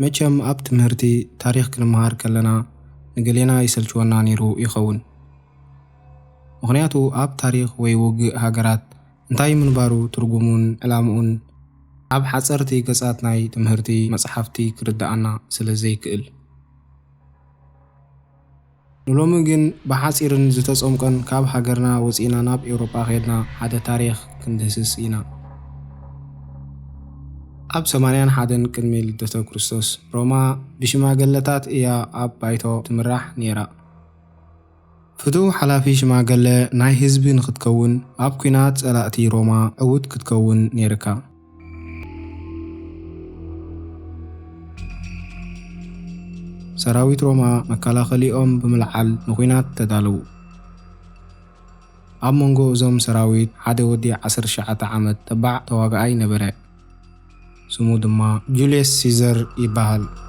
መቸም ኣብ ትምህርቲ ታሪኽ ክንመሃር ከለና ንገሌና ይሰልችወና ነይሩ ይኸውን። ምኽንያቱ ኣብ ታሪኽ ወይ ውግእ ሃገራት እንታይ ምንባሩ ትርጉሙን ዕላምኡን ኣብ ሓጸርቲ ገጻት ናይ ትምህርቲ መጽሓፍቲ ክርድኣና ስለ ዘይክእል። ንሎሚ ግን ብሓጺርን ዝተጸምቈን ካብ ሃገርና ወጺእና ናብ ኤውሮጳ ኬድና ሓደ ታሪኽ ክንድህስስ ኢና። ኣብ ሰማንያን ሓደን ቅድሚ ልደተ ክርስቶስ፣ ሮማ ብሽማገለታት እያ ኣብ ባይቶ ትምራሕ ነይራ። ፍቱው ሓላፊ ሽማገለ ናይ ህዝቢ ንኽትከውን፣ ኣብ ኲናት ጸላእቲ ሮማ ዕዉት ክትከውን ነይርካ። ሰራዊት ሮማ መከላኸሊኦም ብምልዓል ንኹናት ተዳለዉ። ኣብ መንጎ እዞም ሰራዊት ሓደ ወዲ 19 ዓመት ተባዕ ተዋጋኣይ ነበረ፣ ስሙ ድማ ጁልየስ ሲዘር ይበሃል።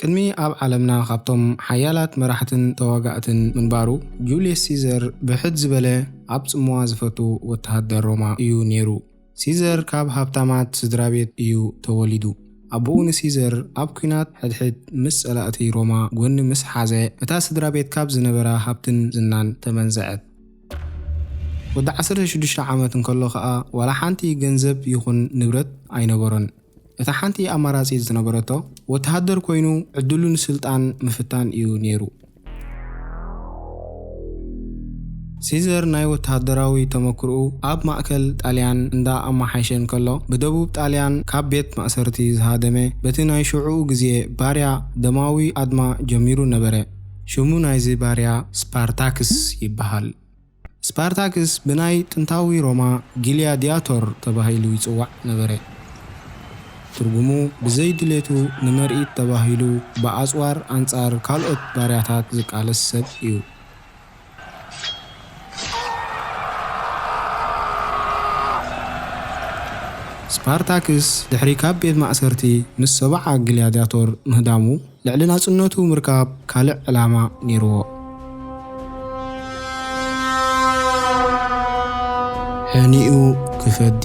ቅድሚ ኣብ ዓለምና ካብቶም ሓያላት መራሕትን ተዋጋእትን ምንባሩ፣ ጁልየስ ሲዘር ብሕት ዝበለ ኣብ ጽምዋ ዝፈቱ ወተሃደር ሮማ እዩ ነይሩ። ሲዘር ካብ ሃብታማት ስድራቤት እዩ ተወሊዱ። ኣቦኡ ንሲዘር ኣብ ኲናት ሕድሕድ ምስ ጸላእቲ ሮማ ጐኒ ምስ ሓዘ፣ እታ ስድራቤት ካብ ዝነበራ ሃብትን ዝናን ተመንዘዐት። ወዲ ዓሰርተ ሽዱሽተ ዓመት እንከሎ ከኣ ዋላ ሓንቲ ገንዘብ ይኹን ንብረት ኣይነበሮን። እታ ሓንቲ ኣማራጺት ዝነበረቶ ወተሃደር ኮይኑ ዕድሉ ንስልጣን ምፍታን እዩ ነይሩ። ሲዘር ናይ ወተሃደራዊ ተመክርኡ ኣብ ማእከል ጣልያን እንዳ ኣማሓይሸ እንከሎ ብደቡብ ጣልያን ካብ ቤት ማእሰርቲ ዝሃደመ በቲ ናይ ሽዑኡ ግዜ ባርያ ደማዊ ኣድማ ጀሚሩ ነበረ። ሽሙ ናይዚ ባርያ ስፓርታክስ ይበሃል። ስፓርታክስ ብናይ ጥንታዊ ሮማ ግልያድያቶር ተባሂሉ ይጽዋዕ ነበረ፣ ትርጉሙ ብዘይ ድሌቱ ንምርኢት ተባሂሉ ብኣጽዋር ኣንጻር ካልኦት ባርያታት ዝቃለስ ሰብ እዩ። ስፓርታክስ ድሕሪ ካብ ቤት ማእሰርቲ ምስ ሰብዓ ግልያድያቶር ምህዳሙ፣ ልዕሊ ናጽነቱ ምርካብ ካልእ ዕላማ ነይርዎ። ሕኒኡ ክፈዲ።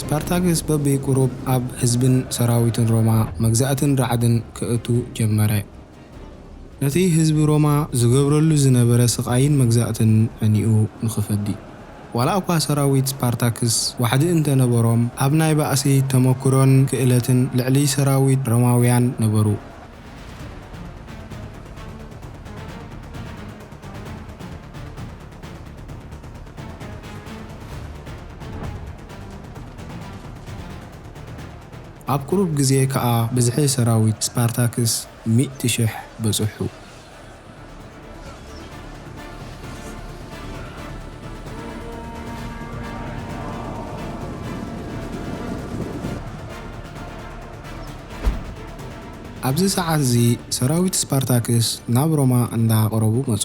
ስፓርታክስ በብቁሩብ ኣብ ህዝብን ሰራዊትን ሮማ መግዛእትን ራዕድን ከእቱ ጀመረ። ነቲ ህዝቢ ሮማ ዝገብረሉ ዝነበረ ስቓይን መግዛእትን ሕኒኡ ንኽፈዲ፣ ዋላ'ኳ ሰራዊት ስፓርታክስ ዋሕዲ እንተ ነበሮም፣ ኣብ ናይ ባእሲ ተመኵሮን ክእለትን ልዕሊ ሰራዊት ሮማውያን ነበሩ። ኣብ ቅሩብ ግዜ ከኣ ብዝሒ ሰራዊት ስፓርታክስ ሚእቲ ሽሕ በጽሑ። ኣብዚ ሰዓት'ዚ ሰራዊት ስፓርታክስ ናብ ሮማ እንዳ ቐረቡ መጹ።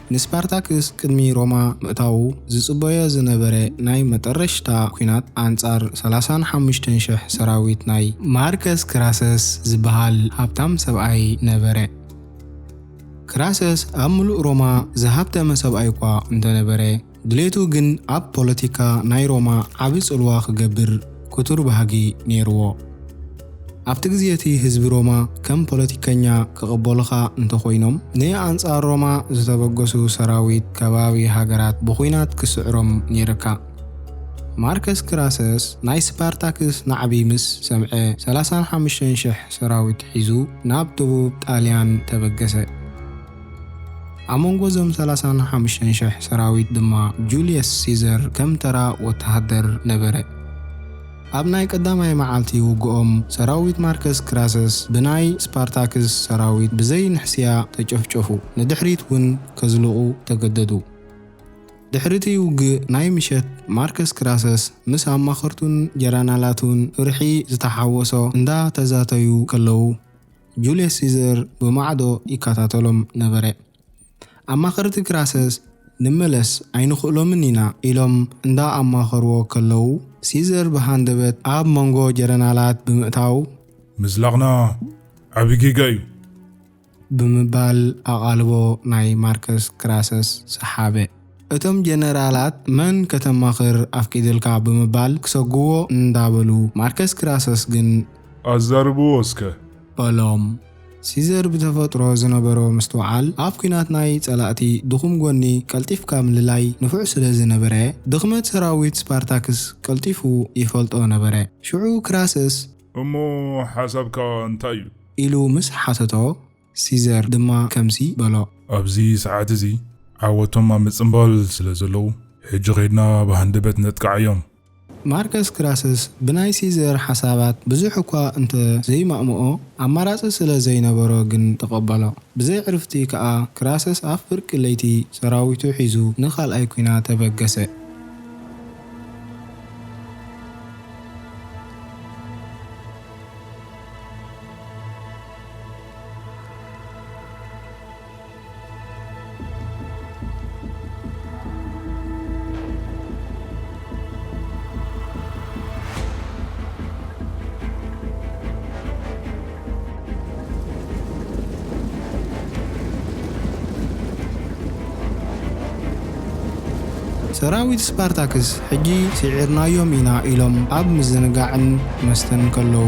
ንስፓርታክስ ቅድሚ ሮማ ምእታዉ ዝጽበዮ ዝነበረ ናይ መጠረሽታ ኩናት ኣንጻር ሰላሳን ሓሙሽተን ሽሕ ሰራዊት ናይ ማርከስ ክራሰስ ዝበሃል ሃብታም ሰብኣይ ነበረ። ክራሰስ ኣብ ምሉእ ሮማ ዝሃብተመ ሰብኣይ'ኳ እንተነበረ፣ ድሌቱ ግን ኣብ ፖለቲካ ናይ ሮማ ዓቢ ጽልዋ ክገብር ክቱር ባህጊ ነይርዎ። ኣብቲ ግዜ'ቲ ህዝቢ ሮማ ከም ፖለቲከኛ ክቕበሉኻ እንተኾይኖም፣ ንኣንጻር ሮማ ዝተበገሱ ሰራዊት ከባቢ ሃገራት ብኹናት ክስዕሮም ነይርካ። ማርከስ ክራሰስ ናይ ስፓርታክስ ናዕቢ ምስ ሰምዐ ሰላሳን ሓሙሽተን ሽሕ ሰራዊት ሒዙ ናብ ደቡብ ጣልያን ተበገሰ። ኣብ መንጎ እዞም ሰላሳን ሓሙሽተን ሽሕ ሰራዊት ድማ ጁልየስ ሲዘር ከም ተራ ወተሃደር ነበረ። ኣብ ናይ ቀዳማይ መዓልቲ ውግኦም ሰራዊት ማርከስ ክራሰስ ብናይ ስፓርታክስ ሰራዊት ብዘይ ንሕስያ ተጨፍጨፉ፣ ንድሕሪት ውን ከዝልቑ ተገደዱ። ድሕሪቲ ውግእ ናይ ምሸት ማርከስ ክራሰስ ምስ ኣማኸርቱን ጀራናላቱን ፍርሒ ዝተሓወሶ እንዳ ተዛተዩ ከለዉ፣ ጁልየስ ሲዘር ብማዕዶ ይከታተሎም ነበረ። ኣማኸርቲ ክራሰስ ንመለስ ኣይንኽእሎምን ኢና ኢሎም እንዳ ኣማኸርዎ ከለዉ፣ ሲዘር ብሃንደበት ኣብ መንጎ ጀረናላት ብምእታው፣ ምዝላቕና ዓቢ ጌጋ እዩ! ብምባል ኣቓልቦ ናይ ማርከስ ክራሰስ ሰሓበ። እቶም ጀነራላት መን ከተማኽር ኣፍቂድልካ ብምባል ክሰጉዎ እንዳበሉ ማርከስ ክራሰስ ግን። ኣዛርብዎ እስከ! በሎም። ሲዘር ብተፈጥሮ ዝነበሮ ምስትውዓል ኣብ ኲናት ናይ ጸላእቲ ድኹም ጎኒ ቀልጢፍካ ምልላይ ንፉዕ ስለ ዝነበረ ድኽመት ሰራዊት ስፓርታክስ ቀልጢፉ ይፈልጦ ነበረ። ሽዑ ክራሰስ። እሞ ሓሳብካ እንታይ እዩ? ኢሉ ምስ ሓተቶ። ሲዘር ድማ ከምዚ በሎ። ኣብዚ ሰዓት እዚ ዓወቶም ኣብ ምጽንባል ስለ ዘለዉ፣ ሕጂ ኼድና ብሃንደበት ነጥቅዓዮም። ማርከስ ክራሰስ ብናይ ሲዘር ሓሳባት ብዙሕ እኳ እንተ ዘይማእምኦ፣ ኣማራጺ ስለ ዘይነበሮ ግን ተቐበሎ። ብዘይ ዕርፍቲ ከኣ ክራሰስ ኣብ ፍርቂ ለይቲ ሰራዊቱ ሒዙ ንኻልኣይ ኲናት ተበገሰ። ሰራዊት ስፓርታክስ ሕጂ ስዒርናዮም ኢና ኢሎም ኣብ ምዝንጋዕን መስተን ከለዉ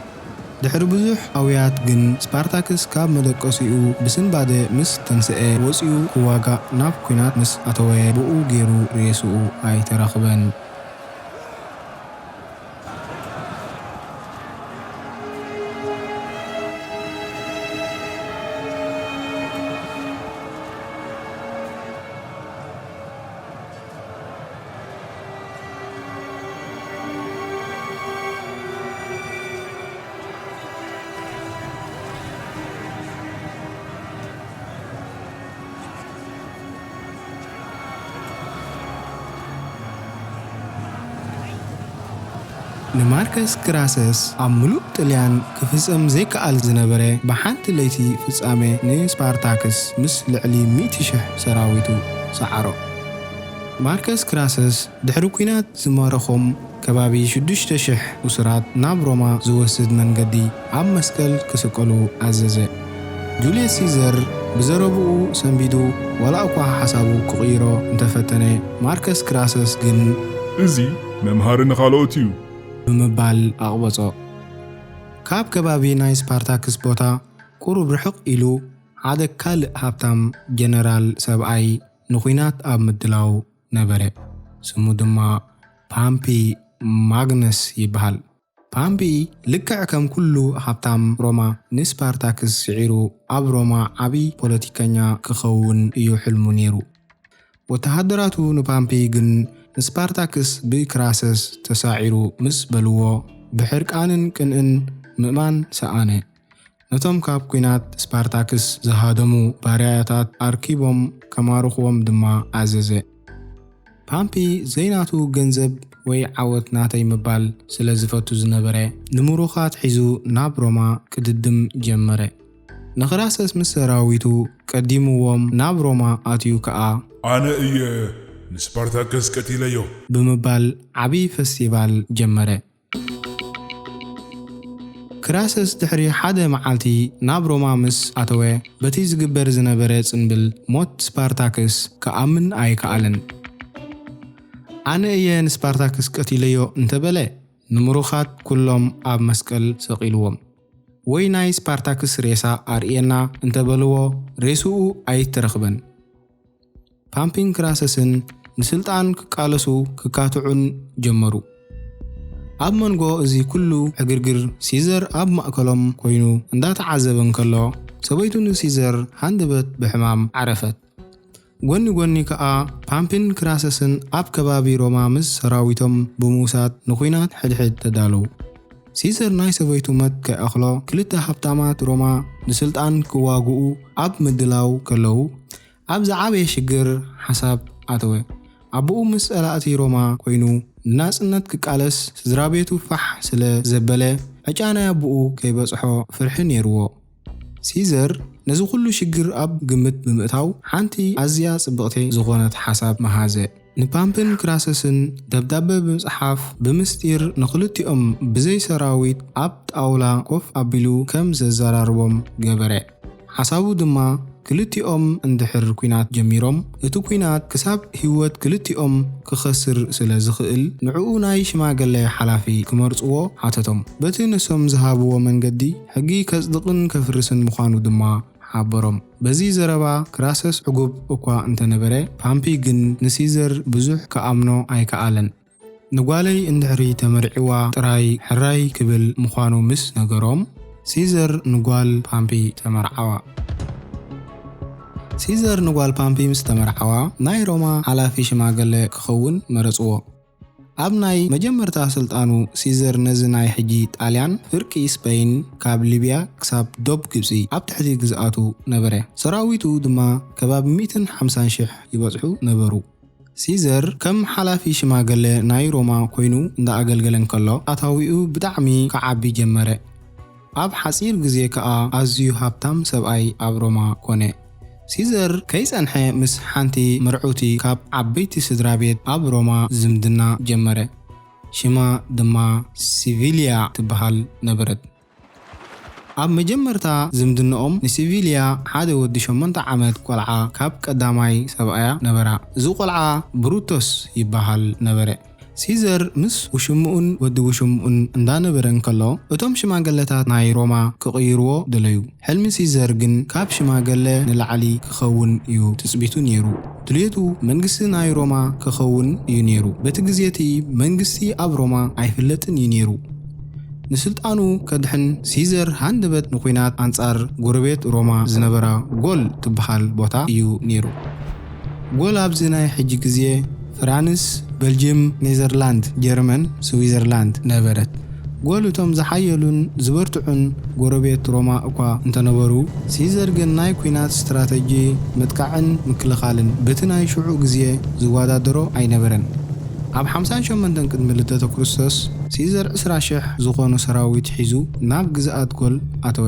ድሕሪ ብዙሕ ኣውያት ግን ስፓርታክስ ካብ መደቀሲኡ ብስንባደ ምስ ተንሰኤ ወጺኡ ክዋጋእ ናብ ኩናት ምስ ኣተወ ብኡ ጌሩ ሬስኡ ኣይተረኽበን። ንማርከስ ግራሰስ ኣብ ምሉእ ጥልያን ክፍጸም ዘይክኣል ዝነበረ ብሓንቲ ለይቲ ፍጻመ ንስፓርታክስ ምስ ልዕሊ ሚእቲ ሽሕ ሰራዊቱ ሰዓሮ። ማርከስ ክራሰስ ድሕሪ ኲናት ዝማረኾም ከባቢ ሽዱሽተ ሽሕ እሱራት ናብ ሮማ ዝወስድ መንገዲ ኣብ መስቀል ክስቀሉ ኣዘዘ። ጁልየስ ሲዘር ብዘረብኡ ሰንቢዱ ዋላ'ኳ ሓሳቡ ክቕይሮ እንተፈተነ፣ ማርከስ ክራሰስ ግን። እዚ መምሃሪ ንኻልኦት እዩ! ብምባል ኣቕበጾ። ካብ ከባቢ ናይ ስፓርታክስ ቦታ ቁሩብ ርሕቕ ኢሉ ሓደ ካልእ ሃብታም ጀነራል ሰብኣይ። ንኲናት ኣብ ምድላው ነበረ። ስሙ ድማ ፓምፒ ማግነስ ይበሃል። ፓምፒ ልክዕ ከም ኩሉ ሃብታም ሮማ ንስፓርታክስ ስዒሩ ኣብ ሮማ ዓቢ ፖለቲከኛ ክኸውን እዩ ሕልሙ ነይሩ። ወተሃደራቱ ንፓምፒ ግን ንስፓርታክስ ብክራሰስ ተሳዒሩ ምስ በልዎ ብሕርቃንን ቅንእን ምእማን ሰኣነ። ነቶም ካብ ኲናት ስፓርታክስ ዝሃደሙ ባርያታት ኣርኪቦም ከማርኹዎም ድማ ኣዘዘ። ፓምፒ ዘይናቱ ገንዘብ ወይ ዓወት ናተይ ምባል ስለ ዝፈቱ ዝነበረ፣ ንምሩኻት ሒዙ ናብ ሮማ ክድድም ጀመረ። ንክራሰስ ምስ ሰራዊቱ ቀዲሙዎም ናብ ሮማ ኣትዩ ከኣ፣ ኣነ እየ ንስፓርታከስ ቀቲለዮ! ብምባል ዓቢ ፈስቲቫል ጀመረ። ክራስስ ድሕሪ ሓደ መዓልቲ ናብ ሮማ ምስ ኣተወ፣ በቲ ዝግበር ዝነበረ ጽንብል ሞት ስፓርታክስ ክኣምን ኣይከኣለን። ኣነ እየ ንስፓርታክስ ቀቲለዮ እንተ በለ፣ ንምሩኻት ኵሎም ኣብ መስቀል ሰቒሉዎም። ወይ ናይ ስፓርታክስ ሬሳ ኣርእየና እንተ በሉዎ፣ ሬስኡ ኣይተረኽበን። ፓምፒንክራሰስን ንስልጣን ክቃለሱ ክካትዑን ጀመሩ። ኣብ መንጎ እዚ ኩሉ ዕግርግር ሲዘር ኣብ ማእከሎም ኮይኑ እንዳተዓዘበ እንከሎ ሰበይቱ ንሲዘር ሃንደበት ብሕማም ዓረፈት። ጎኒ ጎኒ ከኣ ፓምፒንክራሰስን ኣብ ከባቢ ሮማ ምስ ሰራዊቶም ብምውሳድ ንኩናት ሕድሕድ ተዳለው። ሲዘር ናይ ሰበይቱ መት ከይኣኽሎ ክልተ ሃብታማት ሮማ ንስልጣን ክዋግኡ ኣብ ምድላው ከለው ኣብ ዝዓበየ ሽግር ሓሳብ ኣተወ። ኣቦኡ ምስ ጸላእቲ ሮማ ኮይኑ ንናጽነት ክቃለስ ስድራቤቱ ፋሕ ስለ ዘበለ ዕጫ ናይ ኣቦኡ ከይበጽሖ ፍርሒ ኔርዎ። ሲዘር ነዚ ኩሉ ሽግር ኣብ ግምት ብምእታው ሓንቲ ኣዝያ ጽብቕቲ ዝኾነት ሓሳብ መሃዘ። ንፓምፕን ክራሰስን ደብዳበ ብምጽሓፍ ብምስጢር ንኽልቲኦም ብዘይ ሰራዊት ኣብ ጣውላ ኮፍ ኣቢሉ ከም ዘዘራርቦም ገበረ። ሓሳቡ ድማ ክልቲኦም እንድሕር ኲናት ጀሚሮም እቲ ኲናት ክሳብ ህይወት ክልቲኦም ክኸስር ስለ ዝኽእል ንዕኡ ናይ ሽማገለ ሓላፊ ክመርጽዎ ሓተቶም። በቲ ንሶም ዝሃብዎ መንገዲ ሕጊ ከጽድቕን ከፍርስን ምዃኑ ድማ ሓበሮም። በዚ ዘረባ ክራሰስ ዕጉብ እኳ እንተ ነበረ፣ ፓምፒ ግን ንሲዘር ብዙሕ ክኣምኖ ኣይከኣለን። ንጓለይ እንድሕሪ ተመርዒዋ ጥራይ ሕራይ ክብል ምዃኑ ምስ ነገሮም፣ ሲዘር ንጓል ፓምፒ ተመርዓዋ። ሲዘር ንጓል ፓምፒ ምስ ተመርዓዋ፣ ናይ ሮማ ሓላፊ ሽማገለ ክኸውን መረጽዎ። ኣብ ናይ መጀመርታ ስልጣኑ ሲዘር ነዚ ናይ ሕጂ ጣልያን፣ ፍርቂ ስፐይን ካብ ሊብያ ክሳብ ዶብ ግብጺ ኣብ ትሕቲ ግዝኣቱ ነበረ። ሰራዊቱ ድማ ከባቢ ሚእትን ሓምሳን ሽሕ ይበጽሑ ነበሩ። ሲዘር ከም ሓላፊ ሽማገለ ናይ ሮማ ኮይኑ እንዳ ኣገልገለ እንከሎ ኣታዊኡ ብጣዕሚ ክዓቢ ጀመረ። ኣብ ሓጺር ግዜ ከኣ ኣዝዩ ሃብታም ሰብኣይ ኣብ ሮማ ኰነ። ሲዘር ከይጸንሐ ምስ ሓንቲ ምርዕውቲ ካብ ዓበይቲ ስድራ ቤት ኣብ ሮማ ዝምድና ጀመረ፣ ሽማ ድማ ሲቪልያ ትበሃል ነበረት። ኣብ መጀመርታ ዝምድንኦም ንሲቪልያ ሓደ ወዲ ሸሞንተ ዓመት ቈልዓ ካብ ቀዳማይ ሰብኣያ ነበራ፣ እዚ ቈልዓ ብሩቶስ ይበሃል ነበረ። ሲዘር ምስ ውሽምኡን ወዲ ውሽምኡን እንዳነበረ እንከሎ እቶም ሽማገለታት ናይ ሮማ ክቕይርዎ ደለዩ። ሕልሚ ሲዘር ግን ካብ ሽማገለ ንላዕሊ ክኸውን እዩ ትጽቢቱ ኔሩ። ድልየቱ መንግስቲ ናይ ሮማ ከኸውን እዩ ኔሩ። በቲ ግዜ'ቲ መንግስቲ ኣብ ሮማ ኣይፍለጥን እዩ ኔሩ። ንስልጣኑ ከድሕን ሲዘር ሃንደበት ንኩናት ኣንጻር ጎረቤት ሮማ ዝነበራ ጎል ትብሃል ቦታ እዩ ኔሩ። ጎል ኣብዚ ናይ ሕጂ ግዜ ፍራንስ በልጅም ኔዘርላንድ ጀርመን ስዊዘርላንድ ነበረት ጎል እቶም ዝሓየሉን ዝበርትዑን ጎረቤት ሮማ እኳ እንተነበሩ ሲዘር ግን ናይ ኩናት ስትራተጂ ምጥቃዕን ምክልኻልን በቲ ናይ ሽዑ ግዜ ዝዋዳደሮ ኣይነበረን ኣብ ሓምሳን ሸሞንተን ቅድሚ ልደተ ክርስቶስ ሲዘር ዕስራ ሽሕ ዝኾኑ ሰራዊት ሒዙ ናብ ግዝኣት ጎል ኣተወ።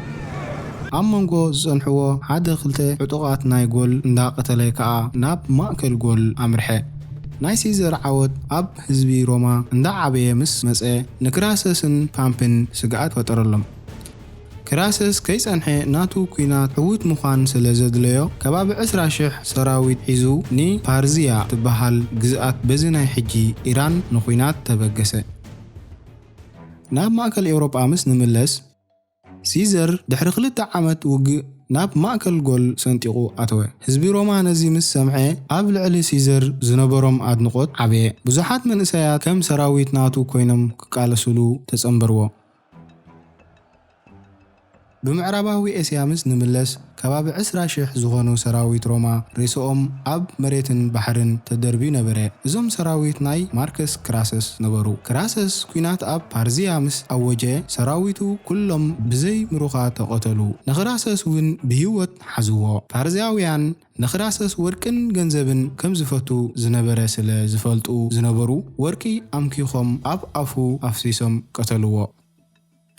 ኣብ መንጎ ዝጸንሕዎ ሓደ ክልተ ዕጡቓት ናይ ጎል እንዳ ቀተለ ከኣ ናብ ማእከል ጎል ኣምርሐ። ናይ ሲዘር ዓወት ኣብ ህዝቢ ሮማ እንዳ ዓበየ ምስ መጸ ንክራሰስን ፓምፕን ስግኣት ፈጠረሎም። ክራሰስ ከይጸንሐ ናቱ ኩናት ዕዉት ምዃን ስለ ዘድለዮ ከባቢ ዕስራ ሽሕ ሰራዊት ሒዙ ን ፓርዝያ ትበሃል ግዝኣት በዚ ናይ ሕጂ ኢራን ንኩናት ተበገሰ። ናብ ማእከል ኤውሮጳ ምስ ንምለስ። ሲዘር ድሕሪ ክልተ ዓመት ውግእ ናብ ማእከል ጎል ሰንጢቑ ኣተወ። ህዝቢ ሮማ ነዚ ምስ ሰምዐ ኣብ ልዕሊ ሲዘር ዝነበሮም ኣድንቖት ዓበየ። ብዙሓት መንእሰያት ከም ሰራዊት ናቱ ኰይኖም ክቃለሱሉ ተጸንበርዎ። ብምዕራባዊ ኤስያ ምስ ንምለስ፣ ከባቢ ዕስራ ሽሕ ዝኾኑ ሰራዊት ሮማ ሬስኦም ኣብ መሬትን ባሕርን ተደርብዩ ነበረ። እዞም ሰራዊት ናይ ማርከስ ክራሰስ ነበሩ። ክራሰስ ኩናት ኣብ ፓርዝያ ምስ ኣወጀ ሰራዊቱ ኩሎም ብዘይ ምሩኻ ተቐተሉ። ንክራሰስ ውን ብሂወት ሓዝዎ። ፓርዝያውያን ንክራሰስ ወርቅን ገንዘብን ከም ዝፈቱ ዝነበረ ስለ ዝፈልጡ ዝነበሩ ወርቂ ኣምኪኾም ኣብ ኣፉ ኣፍሲሶም ቀተልዎ።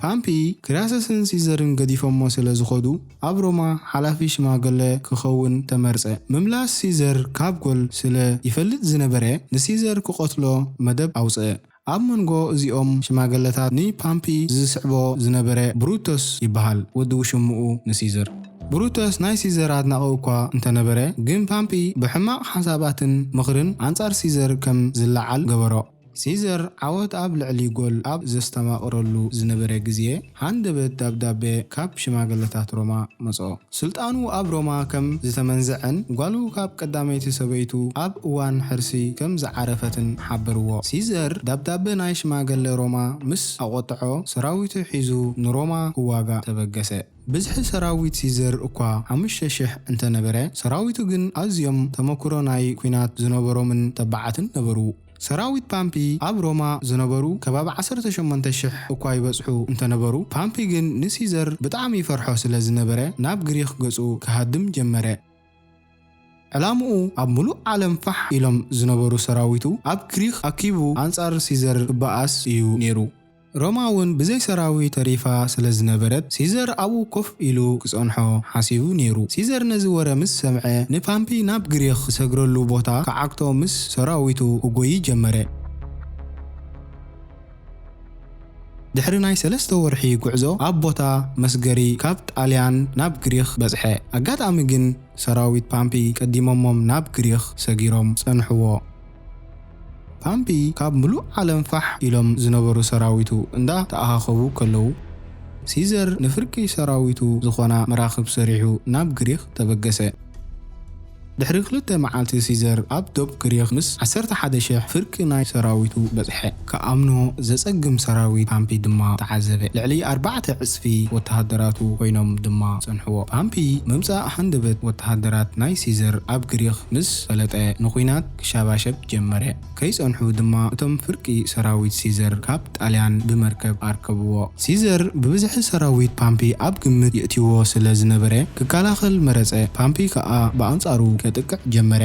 ፓምፒ ክራሰስን ሲዘርን ገዲፎሞ ስለ ዝኸዱ ኣብ ሮማ ሓላፊ ሽማገለ ክኸውን ተመርጸ። ምምላስ ሲዘር ካብ ጎል ስለ ይፈልጥ ዝነበረ ንሲዘር ክቐትሎ መደብ ኣውጽኣ። ኣብ መንጎ እዚኦም ሽማገለታት ንፓምፒ ዝስዕቦ ዝነበረ ብሩተስ ይበሃል፣ ወዲ ውሽምኡ ንሲዘር። ብሩተስ ናይ ሲዘር ኣድናቒ እኳ እንተ ነበረ ግን ፓምፒ ብሕማቕ ሓሳባትን ምኽርን ኣንጻር ሲዘር ከም ዝለዓል ገበሮ። ሲዘር ዓወት ኣብ ልዕሊ ጎል ኣብ ዘስተማቕረሉ ዝነበረ ግዜ፣ ሃንደበት ደብዳበ ካብ ሽማግለታት ሮማ መጽኦ። ስልጣኑ ኣብ ሮማ ከም ዝተመንዘዐን ጓሉ ካብ ቀዳመይቲ ሰበይቱ ኣብ እዋን ሕርሲ ከም ዝዓረፈትን ሓበርዎ። ሲዘር ደብዳበ ናይ ሽማግለ ሮማ ምስ ኣቖጥዖ፣ ሰራዊቱ ሒዙ ንሮማ ክዋጋእ ተበገሰ። ብዝሒ ሰራዊት ሲዘር እኳ ሓሙሽተ ሽሕ እንተ ነበረ፣ ሰራዊቱ ግን ኣዝዮም ተመኵሮ ናይ ኲናት ዝነበሮምን ተባዓትን ነበሩ። ሰራዊት ፓምፒ ኣብ ሮማ ዝነበሩ ከባቢ ዓሰርተ ሸሞንተ ሽሕ እኳ ይበጽሑ እንተ ነበሩ፣ ፓምፒ ግን ንሲዘር ብጣዕሚ ይፈርሖ ስለ ዝነበረ ናብ ግሪኽ ገጹ ክሃድም ጀመረ። ዕላምኡ ኣብ ምሉእ ዓለም ፋሕ ኢሎም ዝነበሩ ሰራዊቱ ኣብ ግሪኽ ኣኪቡ ኣንጻር ሲዘር ክበኣስ እዩ ነይሩ። ሮማ እውን ብዘይ ሰራዊት ተሪፋ ስለ ዝነበረት ሲዘር ኣብኡ ኮፍ ኢሉ ክጸንሖ ሓሲቡ ነይሩ። ሲዘር ነዚ ወረ ምስ ሰምዐ ንፓምፒ ናብ ግሪኽ ዝሰግረሉ ቦታ ክዓግቶ ምስ ሰራዊቱ ክጎዪ ጀመረ። ድሕሪ ናይ ሰለስተ ወርሒ ጉዕዞ ኣብ ቦታ መስገሪ ካብ ጣልያን ናብ ግሪኽ በጽሐ። ኣጋጣሚ ግን ሰራዊት ፓምፒ ቀዲሞሞም ናብ ግሪኽ ሰጊሮም ጸንሕዎ። ፓምፒ ካብ ምሉእ ዓለም ፋሕ ኢሎም ዝነበሩ ሰራዊቱ እንዳ ተኣኻኸቡ ከለዉ፣ ሲዘር ንፍርቂ ሰራዊቱ ዝኾና መራኽብ ሰሪሑ ናብ ግሪኽ ተበገሰ። ድሕሪ ክልተ መዓልቲ ሲዘር ኣብ ዶብ ግሪኽ ምስ ዓሰርተ ሓደ ሽሕ ፍርቂ ናይ ሰራዊቱ በጽሐ። ክኣምኖ ዘጸግም ሰራዊት ፓምፒ ድማ ተዓዘበ። ልዕሊ ኣርባዕተ ዕጽፊ ወተሃደራቱ ኮይኖም ድማ ጸንሕዎ። ፓምፒ ምምጻእ ሃንደበት ወተሃደራት ናይ ሲዘር ኣብ ግሪኽ ምስ ፈለጠ ንኩናት ክሻባሸብ ጀመረ። ከይጸንሑ ድማ እቶም ፍርቂ ሰራዊት ሲዘር ካብ ጣልያን ብመርከብ ኣርከብዎ። ሲዘር ብብዝሒ ሰራዊት ፓምፒ ኣብ ግምት የእትዎ ስለ ዝነበረ ክከላኸል መረጸ፣ ፓምፒ ከኣ ብኣንጻሩ ከጥቅዕ ጀመረ።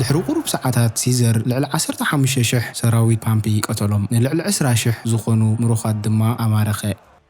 ድሕሪ ቁሩብ ሰዓታት ሲዘር ልዕሊ ዓሰርተ ሓሙሽተ ሽሕ ሰራዊት ፓምፒ ቀተሎም፣ ንልዕሊ ዕስራ ሽሕ ዝኾኑ ምሩኻት ድማ ኣማረኸ።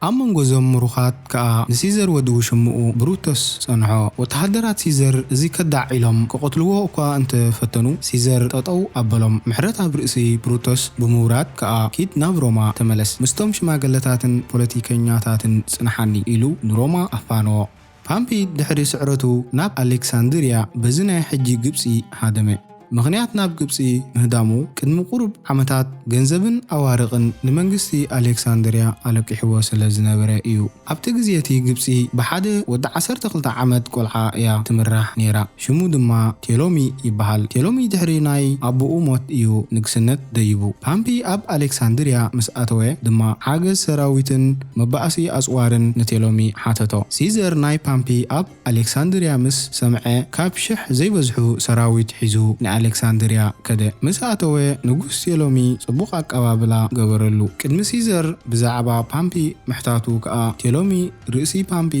ኣብ መንጎ እዞም ምሩኻት ከኣ ንሲዘር ወዲ ውሽምኡ ብሩቶስ ጸንሖ። ወተሃደራት ሲዘር እዚ ከዳዕ ኢሎም ክቐትልዎ እኳ እንተ ፈተኑ፣ ሲዘር ጠጠው ኣበሎም። ምሕረት ኣብ ርእሲ ብሩቶስ ብምውራድ ከኣ ኪድ ናብ ሮማ ተመለስ፣ ምስቶም ሽማግለታትን ፖለቲከኛታትን ጽንሓኒ ኢሉ ንሮማ ኣፋነዎ። ፓምፒ ድሕሪ ስዕረቱ ናብ ኣሌክሳንድርያ፣ በዚ ናይ ሕጂ ግብጺ፣ ሃደመ። ምኽንያት ናብ ግብጺ ምህዳሙ ቅድሚ ቁሩብ ዓመታት ገንዘብን ኣዋርቕን ንመንግስቲ ኣሌክሳንድርያ ኣለቂሕዎ ስለ ዝነበረ ኢዩ። ኣብቲ ግዜ'ቲ ግብጺ ብሓደ ወዲ ዓሰርተ ክልተ ዓመት ቆልዓ ኢያ ትምራሕ ነይራ። ሽሙ ድማ ቴሎሚ ይበሃል። ቴሎሚ ድሕሪ ናይ ኣቡኡ ሞት ኢዩ ንግስነት ደይቡ። ፓምፒ ኣብ ኣሌክሳንድርያ ምስ ኣተወ ድማ ሓገዝ ሰራዊትን መባኣሲ ኣጽዋርን ንቴሎሚ ሓተቶ። ሲዘር ናይ ፓምፒ ኣብ። ኣሌክሳንድርያ ምስ ሰምዐ፣ ካብ ሽሕ ዘይበዝሑ ሰራዊት ሒዙ ንኣሌክሳንድርያ ከደ። ምስ ኣተወ፣ ንጉስ ቴሎሚ ጽቡቕ ኣቀባብላ ገበረሉ። ቅድሚ ሲዘር ብዛዕባ ፓምፒ ምሕታቱ ከኣ፣ ቴሎሚ ርእሲ ፓምፒ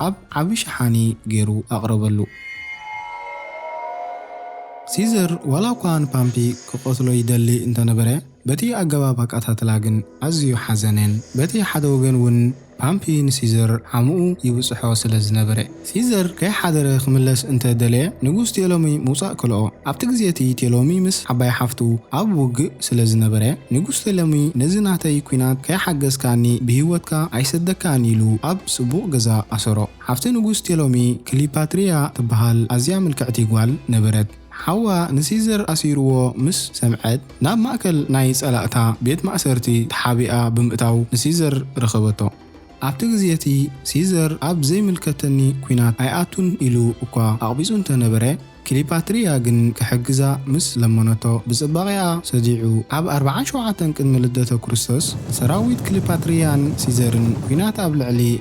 ኣብ ዓቢ ሸሓኒ ገይሩ ኣቕረበሉ። ሲዘር ዋላኳ ንፓምፒ ክቐትሎ ይደሊ እንተ ነበረ፣ በቲ ኣገባብ ኣቀታትላ ግን ኣዝዩ ሓዘነን በቲ ሓደ ወገን እውን ፓምፒ ንሲዘር ዓምኡ ይብጽሖ ስለ ዝነበረ፣ ሲዘር ከይሓደረ ክምለስ እንተ ደለየ፣ ንጉስ ቴሎሚ ምውጻእ ከልኦ። ኣብቲ ግዜ እቲ ቴሎሚ ምስ ዓባይ ሓፍቱ ኣብ ውግእ ስለ ዝነበረ፣ ንጉስ ቴሎሚ ነዚ ናተይ ኲናት ከይሓገዝካኒ ብህይወትካ ኣይሰደካን ኢሉ ኣብ ጽቡቕ ገዛ ኣሰሮ። ሓፍቲ ንጉስ ቴሎሚ ክሊፓትሪያ ትብሃል ኣዝያ ምልክዕቲ ጓል ነበረት። ሓዋ ንሲዘር ኣሲሩዎ ምስ ሰምዐት፣ ናብ ማእከል ናይ ጸላእታ ቤት ማእሰርቲ ተሓቢኣ ብምእታው ንሲዘር ረኸበቶ። ኣብቲ ግዜ እቲ፣ ሲዘር ኣብ ዘይምልከተኒ ኲናት ኣይኣቱን ኢሉ እኳ ኣቕቢጹ እንተ ነበረ፣ ክሊፓትርያ ግን ክሕግዛ ምስ ለመነቶ ብጽባቒኣ ሰዲዑ። ኣብ ኣርብዓን ሸውዓተን ቅድሚ ልደተ ክርስቶስ፣ ሰራዊት ክሊፓትርያን ሲዘርን ኲናት ኣብ ልዕሊ።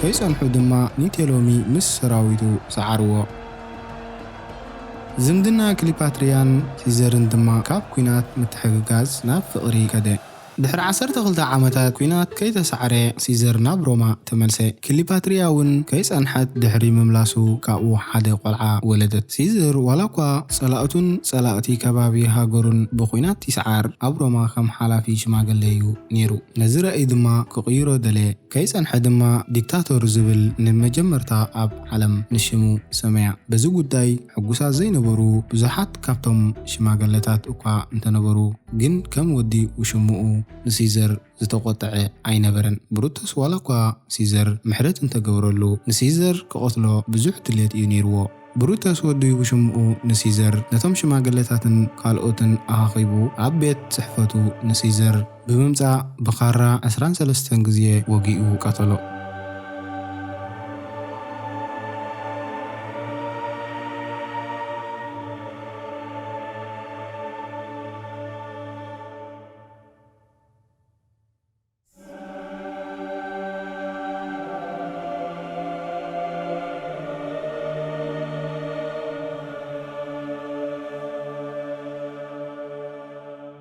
ከይጸንሑ ድማ ኒቴሎሚ ምስ ሰራዊቱ ሰዓርዎ። ዝምድና ክሊፓትርያን ሲዘርን ድማ ካብ ኲናት ምትሕግጋዝ ናብ ፍቕሪ ከደ። ድሕሪ ዓሰርተ ክልተ ዓመታት ኲናት ከይተሳዕረ ሲዘር ናብ ሮማ ተመልሰ። ክሊፓትርያ'ውን ከይጸንሐት ድሕሪ ምምላሱ ካብኡ ሓደ ቆልዓ ወለደት። ሲዘር ዋላኳ ጸላእቱን ጸላእቲ ከባቢ ሃገሩን ብኲናት ይስዓር፣ ኣብ ሮማ ከም ሓላፊ ሽማግለ'ዩ ነይሩ። ነዚ ራእይ ድማ ክቕይሮ ደለየ። ከይጸንሐ ድማ ዲክታቶር ዝብል ንመጀመርታ ኣብ ዓለም ንሽሙ ሰመያ። በዚ ጉዳይ ሕጉሳት ዘይነበሩ ብዙሓት ካብቶም ሽማገለታት እኳ እንተነበሩ ግን ከም ወዲ ውሽምኡ ንሲዘር ዝተቖጠዐ ኣይነበረን። ብሩቱስ ዋላኳ ሲዘር ምሕረት እንተገበረሉ ንሲዘር ክቐትሎ ብዙሕ ድሌት እዩ ነይርዎ። ብሩተስ ወዲ ውሽምኡ ንሲዘር ነቶም ሽማግለታትን ካልኦትን ኣኻኺቡ ኣብ ቤት ጽሕፈቱ ንሲዘር ብምምጻእ ብኻራ ዕስራን ሰለስተን ግዜ ወጊኡ ቀተሎ።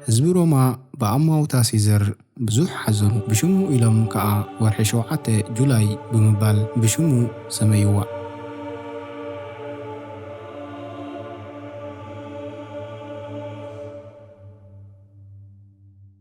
ህዝቢ ሮማ ብኣማውታ ሲዘር ብዙሕ ሓዘኑ፣ ብሽሙ ኢሎም ከኣ ወርሒ ሸውዓተ፣ July፣ ብምባል ብሽሙ ሰመይዋ።